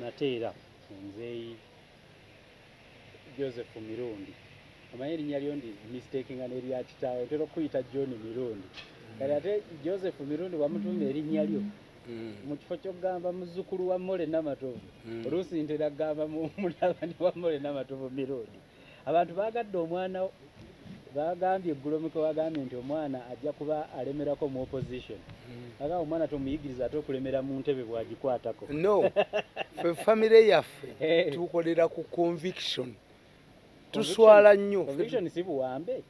nate era nzeeyi joseph mirundi omanyi erinnya lyo ndi mistakinga n'erya kitaawe ntera okukuyita john mirundi kati ate joseph mirundi wamutuuma erinnya lyo mm. mu kifo kyokugamba muzzukulu wa mole namatovu mm. oluusi ntera kugamba mutabani wa mole namatovu mirundi abantu bagadde omwana bagambye eggulo muke wagambye nti omwana ajja kuba alemerako mu opposition hmm. aga omwana tomuyigiriza ate okulemera mu ntebe bwagikwatako no fe famire yaffe eh. tukolera ku conviction tuswala nnyo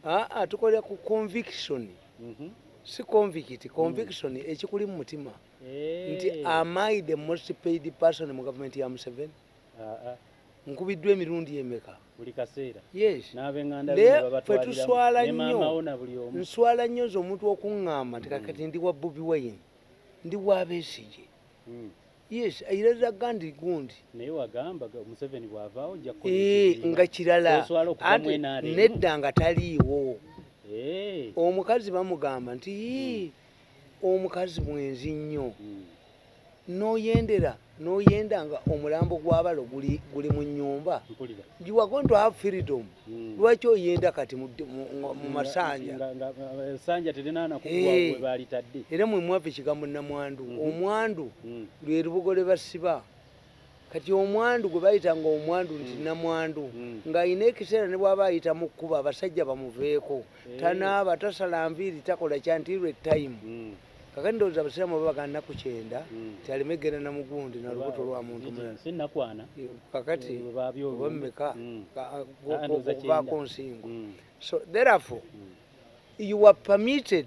aa tukolera ku conviction mhm. si convict conviction hmm. ekikuli mu mutima eh. nti amai the most paid person mu gavumenti ya museveni nkubiddwa emirundi emeka buli kaseera yesffe tuswala nnyo nswala nnyo nze omuntu okuŋŋamba nti kakati mm. ndi wa bobi wayini ndi wa besigye mm. yes era zaga nti gundi eh, nga kirala nedda nga taliiwo eh. omukazi bamugamba nti mm. omukazi mwenzi nnyo hmm. noyendera noyenda nga omulambo gwabalo guli mu nyumba jiwagonto have freedom hmm. lwaki oyenda kati mu masanja eh, era mwemwava ekigambo namwandu hmm. omwandu lwerubugo lwebasiba kati omwandu gwe bayita nga omwandu nti mm. namwandu mm. ng'alina ekiseera ne bwaba ayita mu kkuba abasajja bamuveeko eh. tanaaba tasala nviiri takola kyantirwe time mm. kakati ndowooza abasiraamu baba baga nnaku kyenda ti aleme genda na mugundi na lubuto lwa muntu mulala eh, kakati obamumeka okuvaako nsingo so therefore you were permitted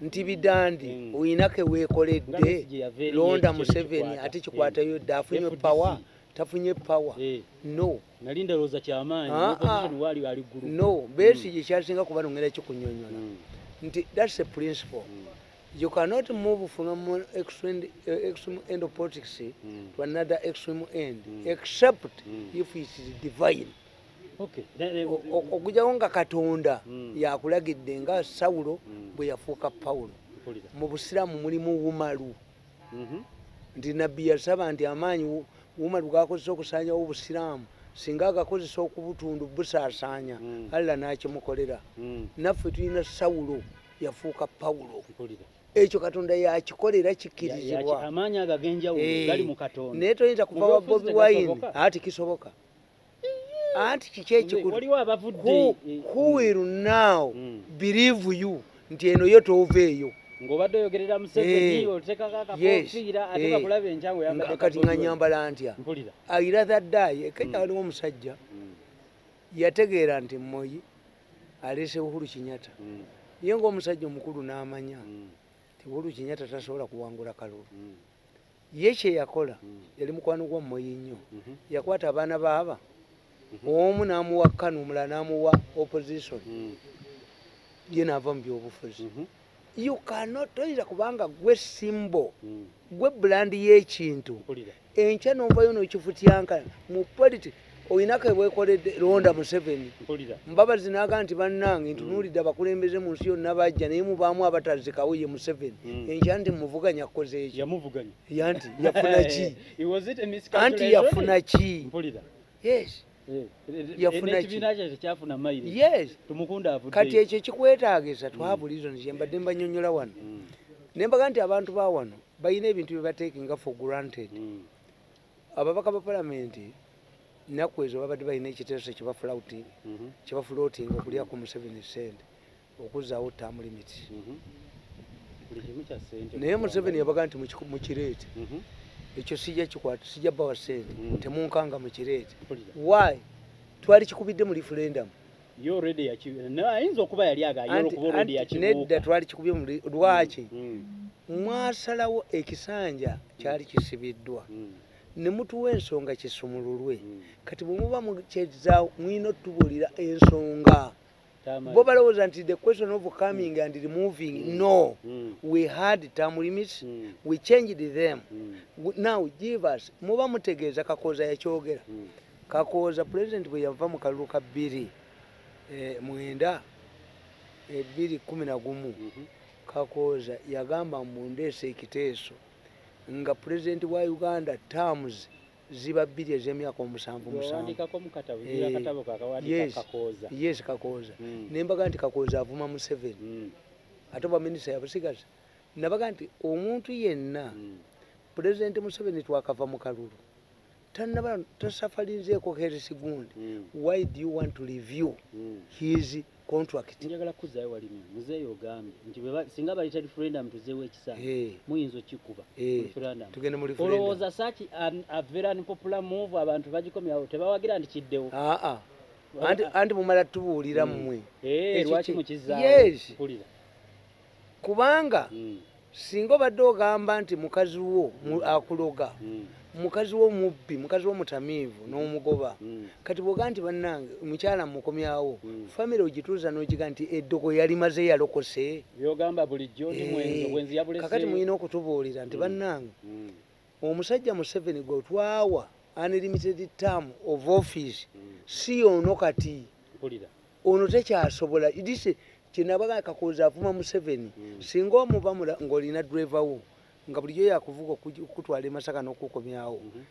nti mm. bidandi mm. oyina kewekoledde londa museveni ate kikwatayo dde afunye power tafunye power eh. no ah, ah. no besi mm. yekyasinga kuba nongera kikunyonyola nti thats a principle you cannot move from one extreme, uh, extreme end of politics mm. to another extreme end mm. except mm. if it is divine okugyawo nga katonda hmm. yakulagidde nga sawulo hmm. bwe yafuuka pawulo mu busiraamu mulimu wumalu mhm. nti nabbi yasaba nti amaanyi wumalu gakozesa okusanyawo obusiraamu singa agakozesa okubutundu busaasaanya hmm. allah n'akimukolera naffe tulina sawulo yafuuka pawulo ekyo katonda yakikolera kikirizibwa eh. naye toyinza kuva wa bobi wine ati kisoboka anti kiki ekikulu who will now mm. believe you nti eno yo toova eyo ngobadde oyogerera museveni eh. otekako akakofiira ate eh. bakulaba enkyango yambadde kati nga nyambala ntya mpulira ayira the die eh, kenya mm. waliwo omusajja mm. yategeera nti moyi aleese uhuru kinyata mm. ye ngaomusajja omukulu n'amanya nti uhuru kinyata tasobola kuwangula kalulu ye kyeyakola mm. yali mukwano gwa moyi nnyo mhm. yakwata abaana baaba mhm. omu namuwa kanu omulala namuwa opposition mm. ye naava mu byobufuzi mhm. you cannot toyinza kubanga gwe simbo mm. gwe bulandi yekintu enkya novayo nokifutyanka mu politics olina kebwekoledde londa museveni mbabazi naga nti bannange ntunuulidde abakulembeze mu nsi yonna bajja naye mubaamu abatazikawo ye museveni hmm. enkya nti muvuganya kukoze eki yanti yafuna ki anti yafuna ki yes eh, kati ekyo kikwetagisa hmm. twabulizo nzembadde mbanyonyola wano hmm. nembaga nti abantu bawano balina ebintu byebatekinga for granted ababaka ba palamenti nnaku ezo babadde balina ekiteeso kyebafulautinga mhm. kyebafulootinga okulya ku museveni sente okuzzaawo tamu limiti mhm. naye museveni yabaga nti mukireete mhm. ekyo sijja kikwata sijja bawa sente temunkanga mukireete wy twali kikubidde mu referendamu yo already yaki na ayinza okuba yali aga yo okuba already yaki nedda twali kikubye mu lwaki mm, mm. mwasalawo ekisanja kyali kisibiddwa mm. ne mutuwa ensonga kisumululwe mm. kati bwe muba mukyezaawo mwina otubulira ensonga mm. bo balowooza nti the question of coming mm. and removing mm. no mm. we had term limits mm. we changed them mm. now give us muba mutegeeza kakooza yakyogera mm. kakooza pulezidenti bwe yava mu kalulu ka bbiri eh, mwenda ebbiri eh, kumi na gumu mhm. kakooza yagamba mbu ndeesa ekiteeso nga pulezidenti wa uganda terms ziba bbiri ez'emyaka omusanvu musanvuyes kakooza hmm. nembaga nti kakooza avuma museveni hmm. ate obwaminisita yabusigaza nabaga nti omuntu yenna hmm. pulezidenti museveni twakava mu kalulu tanaba tasafalinzeeko heris gundi mm. why do you want to review mm. his contract njagala kuzayo walimu muzeeyo ogambye nti singa bayita referendum tuzeewo ekisanja hey. muyinza okikuba hey. referendum tugende mu referendum olowooza saki um, a very unpopular move abantu bagikomyawo tebawagira nti kiddewo aa ah, ah. anti, anti mumala tubuulira mmwe mm. hey, eh, lwaki mukizaawo yes. kubanga mm. singa obadde ogamba nti mukazi wo mm. akuloga mm. mukazi wo mubbi mukazi wo mutamiivu mm. n'omugoba kati bwoga nti bannange omukyala mukomyawo famire ogituuza n'okiga nti eddogo yali maze yalokose byogamba bulijjo ndi mwenzi eh, obwenzi yabulese kakati mulina okutubuulira nti bannange omusajja museveni gwe twawa unlimited term of office si ono kati ono tekyasobola idise kyenabaga kakoza avuma museveni hmm. singa omuba ngaolina driver wo nga bulijo yakuvuga okutwala emasaka nokukomyawo mhm.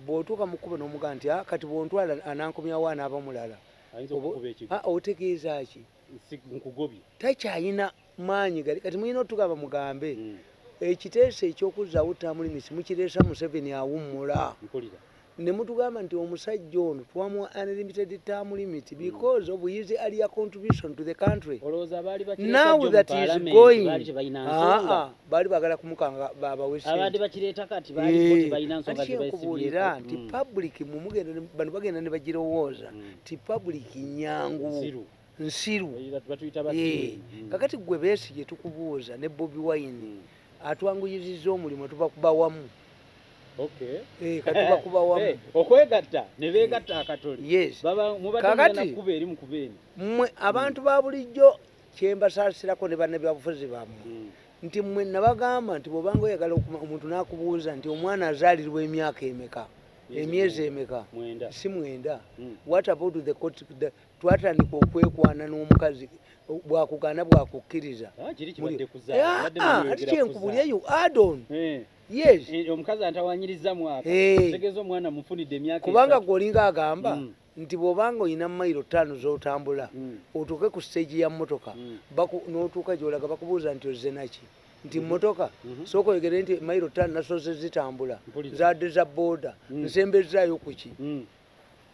bwotuuka mukuba nomuga nti ah, kati bwontwala anankomyawo anaaba mulala ah, otegeeza ki takyayina maanyi gali kati mulina otugamba mugambe mm. ekiteeso ekyokuzzaawo tamulimisi mukireesa museveni awummula ne mutugamba nti omusajja ono twamuwa unlimited term limit mm. because of his earlier contribution to the country now that is going baali bagala kumukanga babaweskubuulira eh. nti mm. public mumugenda bano bagenda ne bagirowooza nti public nyangu nsiru eh, mm. kakati gwe besi gyetukubuuza ne bobi wine mm. atwanguyiziza omulimu tubakuba wamu eh, katubakuba wamu eh, okwegatta nebegatta akatoli mubadekuba eri mukuba eni mwe abantu ba bulijjo kyembasaasirako ne banebyabufuzi bamwe mm. nti mwe nabagamba nti bwobanga oyagala omuntu nakubuuza nti omwana azaalirwa emyaka emeka emyezi emeka si mwenda what about the twatandika okwekwana n'omukazi bwakugaana bwakukkiriza ah, ah, ah, ati kyenkubuleyo adon eh. yes eh, omukazi antawanyiriza mwaka eh. tegeza omwana mufunidde emyaka kubanga gwe olinga agamba mm. nti bwobanga olina mayiro ttaano z'otambula mm. otuuke ku siteegi ya mmotoka mm. n'otuuka gyolaga bakubuuza nti ozze naki nti mhm. motoka mhm. soko egere nti mairo tan nasoze zitambula zade za boda mm. nsembe zayo kuki mm.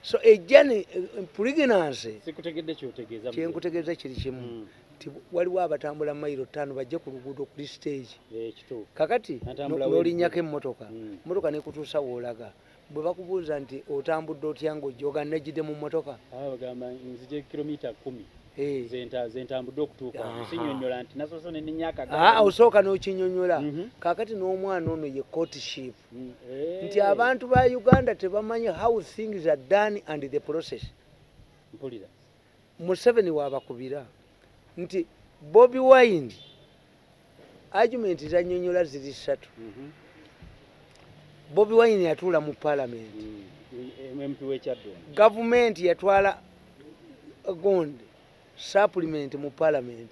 so ejani eh, pregnancy sikutegedde kyotegeeza kyenkutegeeza kiri kimu mm. nti waliwo abatambula mailo ttaano bajje ku luguudo kuli stage eh, kakati nolinyako emmotoka mm. motoka nekutuusa woolaga bwe bakubuuza nti otambudde otya nga ojjoga nejjidde mu mmotoka bagamba nzija kilomita kumi eh. zentambudde okutuukaosinyonyola nti nasoose nenenya akagaosooka ah, n'okinyonyola mhm. kakati n'omwana ono ye courtship mm, eh. nti abantu ba uganda tebamanyi how things are done and the process mpulira museveni wabakubira nti bobi wine argument zanyonyola ziri satu mhm. bobi wine yatuula mu parliament mm, mm, gavumenti yatwala uh, gond supplement mu parliament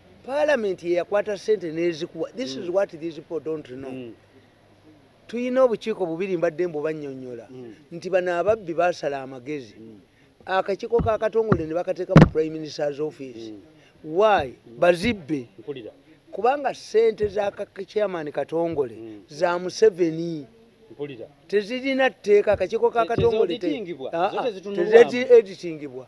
Parliament ye yakwata sente nezikuwa. This mm. is what these people don't know. Mm. Tuyina obukiiko bubiri mbadde mbu banyonyola mm. nti bana ababbi basala amagezi. Mm. Akakiko ka katongole ne bakateka mu Prime Minister's office. Mm. Why? Mm. Bazibbe. Mpulira. Kubanga sente za chairman katongole mm. za Museveni. Mm. tezirina tteeka akakiiko kakatongole tezeditingibwa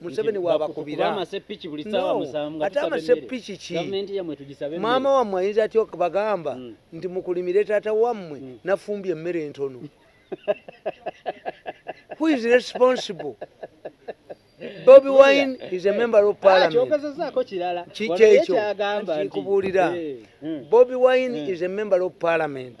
museveni wabakubira ate amasepiki ki maama wammwe ayinza atya okubagamba hmm. nti mukulimire taata wammwe hmm. nafumbye emmere entono who is responsible bobi wine is a member of ah, parliamentkikyekyokikubuulira eh, hmm. bobi wine is a member of parliament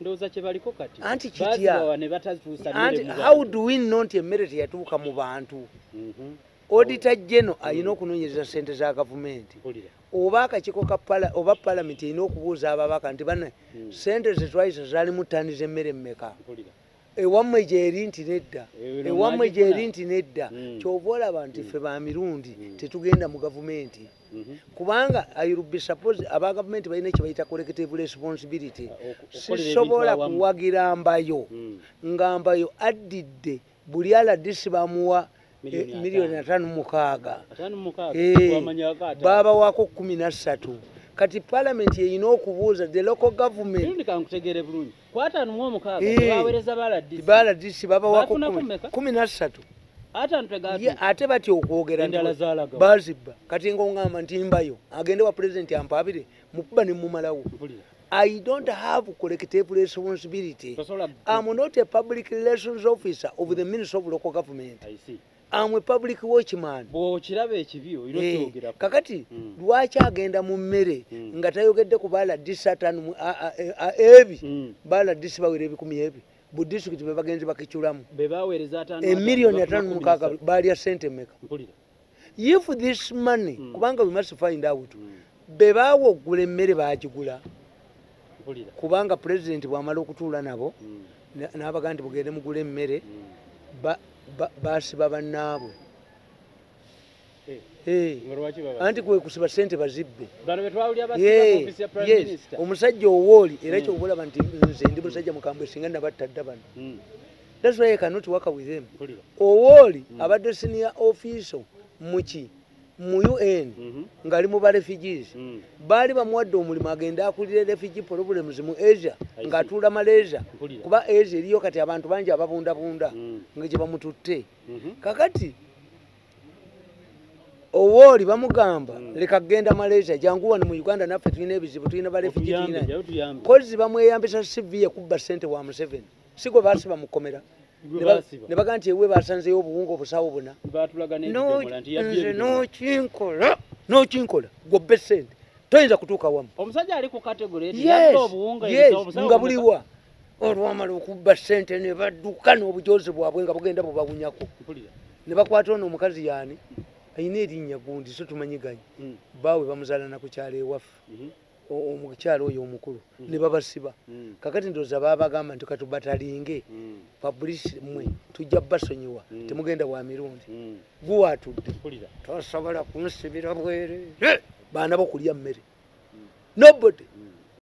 ndoza kyebaliko kati anti kitya ne batazusa anti how do we know nti emmere teyatuuka mu bantu mhm. odita geno alina mm. okunonyereza sente za gavumenti oba akakiko kapala oba palamenti erina okubuuza ababaka nti bana mm. sente zetwayisa zalimu tani zemmere mmeka ewammwe gyeri nti nedda ewammwe gyeri nti nedda hmm. kyova olaba nti hmm. fe ba mirundi hmm. tetugenda mu gavumenti mhm. kubanga irubesuppose aba gavumenti balina kyebayita collective responsibility ah, sisobola kuwagira mbayo nga mbayo addidde buli aladisi bamuwa miliyoni atano eh, mukaaga eh, baba wako kumi na ssatu kati palamenti eyina okubuuza the local government kwatano mu omukaaga eh, bawereza baladisi baladisi babawako kumi nasatu ate batya okwogera bazibba kati ngaongamba nti mbayo agende wa pulezidenti ampabire mukuba nemumalawo I don't have collective responsibility. I'm not a public relations officer of the Ministry of Local Government. I see. amwe public watchman bwokiraba ekibi oyina eh, okyogera kakati mm. lwaki agenda mu mmere mm. nga tayogedde ku baladisi atanu ebi mm. baladisi bawera ebikumi ebi bu district bebagenzi bakiculamu emiliyoni atano mukaaga baalya sente meka if this money mm. kubanga we must find out mm. be baawa okugula emmere baagigula kubanga pulezidenti bw'amala okutuula nabo hmm. n'abaga nti bugende mugula emmere hmm. basiba bannaabwe eh. Eh. anti kwekusiba sente bazibbe omusajja owooli era hmm. kyokulaba nti nze ndi musajja mukambwe singa nabatta dda bano that's why i cannot work with him owooli abadde senior official muki mu un mhm. ngali mu ba refugees mm. baali bamuwadde omulimu agende akulire refugee problems mu asia ng'atuula malaysia kuba asia eriyo kati abantu bangi ababundabunda mm. nga gye bamututte mhm. kakati owooli bamugamba mm. leka kugenda malaysia jangu wano mu uganda naffe tulina ebizibu tulina ba refugee tulina kozi bamweyambisa cv ye kubba sente wa museveni sigwe basiba mukomera ne baga nti ewe basanzeyo obuwunga obusawo buna nze nokinkola nokinkola gobbe sente toyinza kutuuka wamu omusajja ali ku kategore nga buliwa olwamala okubba sente ne badduka n'obujozi bwabwe nga bugenda bubawunyako ne bakwata ono omukazi yaani alina erinnya gundi so tumanyi ganyi hmm. baawe bamuzaalana ku kyalo ewaffe mhm. omukyalo oyo omukulu mm. nebabasiba mm. kakati ndoza babagamba nti katubatalinge mm. publish mwe tujja basonyiwa temugenda wa mirundi guwatudde tosobola kunsibira bwere baana bokulya mmere nobody